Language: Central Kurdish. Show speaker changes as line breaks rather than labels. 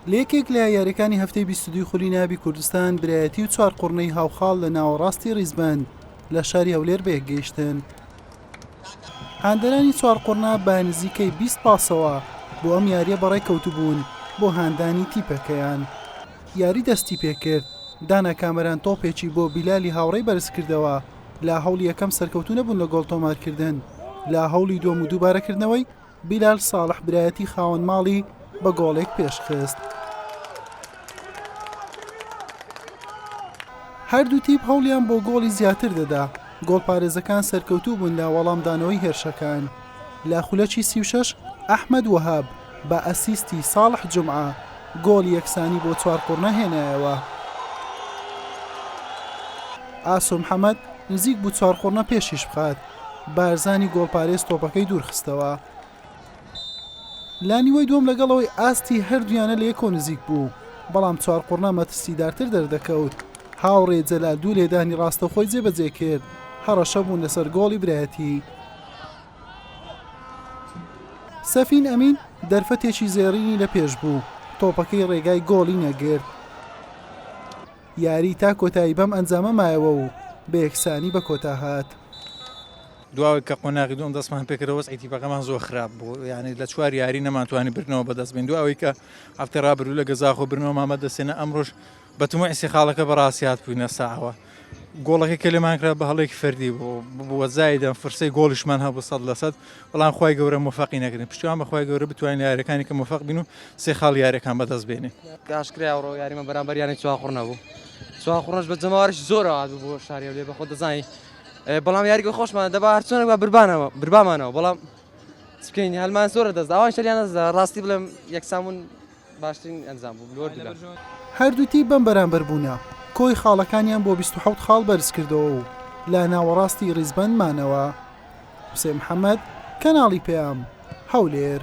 لە یەکێک لە یاریەکانی هەفتەی بیست و دووی خولی نابی کوردستان برایەتی و چوار قوڕنەی هاوخاڵ لە ناوەڕاستی ڕیزبەند لە شاری هەولێر بەیەک گەیشتن هاندەرانی چوار قوڕنا بە نزیکەی 20 پاسەوە بۆ ئەم یاریە بەڕێ کەوتبوون بۆ هاندانی تیپەکەیان یاری دەستی پێکرد دانا کامەران تۆپێکی بۆ بیلالی هاوڕێی بەرز کردەوە لا هەوڵی یەکەم سەرکەوتو نەبوون لە گۆڵ تۆمارکردن لا هەوڵی دووەم و دووبارەکردنەوەی بیلال ساڵح برایەتی خاوەن ماڵی بە گۆڵێک پێشخست. هەردوو تیپ هەوڵیان بۆ گۆڵی زیاتر دەدا گۆڵپارێزەکان سەرکەوتوو بوون لە وەڵامدانەوەی هێرشەکان لە خولەکی سی و شەش ئەحمەد وەهاب بە ئەسیستی ساڵح جمعە گۆڵی یەکسانی بۆ چوار قوڕنە هێنایەوە ئاسۆ محەمەد نزیک بوو چوار قوڕنە پێشیش بخات بارزانی گۆڵپارێز تۆپەکەی دوورخستەوە لە نیوەی دووەم لەگەڵەوەی ئاستی هەردوویانە لە یەکەوە نزیک بوو بەڵام چوارقوڕنا مەترسیدارتر دەردەکەوت هاوڕێ جەلال دوو لێدانی ڕاستەخۆی جێبەجێ کرد هەڕەشە بوون لەسەر گۆڵی برایەتی سەفین ئەمین دەرفەتێکی زێڕینی لە پێش بوو تۆپەکەی ڕێگای گۆڵی نەگرت یاری تا کۆتایی بەم ئەنجامە مایەوە و بە یەکسانی بە کۆتا هات.
دواوەی کە قۆناغی دووەم دەستمان پێکردەوە وەزعی تیپەکەمان زۆر خراپ بوو یعنی لە چوار یاری نەمانتوانی بردنەوە بەدەست بین دواوەی کە هەفتەی ڕابردوو لە گەزاخۆ برنەوەمان بەدەستێنە ئەمڕۆش بە تموعی سێ خاڵەکە بەڕاستی هاتبووینە ساوە گۆڵەکەی کە لێمان کرا بە هەڵێکی فەردی بوو بووە زایدەم فرسەی گۆڵیشمان هەبوو سەد لەسەد بەڵام خوای گەورە مۆفەقی نەکردین پشتیوان بە خوای گەورە بتوانین لە یاریەکانی کە مۆفەق بین و سێ خاڵی یاریەکان بەدەست بێنین. ئاشکرایە ئەوڕۆ یاریمە
بەرامبەر یانەی چواخوڕ نەبوو چواخوڕش بە جەماوەریش زۆر ئاوات بوو بۆ شاری هەولێر بەخۆت دەزانی بەڵام یاریگە خۆشمان دەبا هەر چۆنێک با بربانەوە بربامانەوە بەڵام چ بکەین هەلمان زۆرە دەست ئەوان شەریان دەست ڕاستی بڵێم یەکسان بوون باشترین ئەنجام بوو لۆ دلم. هەردوو تیپ بەم
بەرامبەر بوونە کۆی خاڵەکانیان بۆ بیست و حەوت خاڵ بەرزکردەوە و لە ناوەڕاستی ڕیزبەند مانەوە. حوسێن محەمەد، کەناڵی پەیام، هەولێر.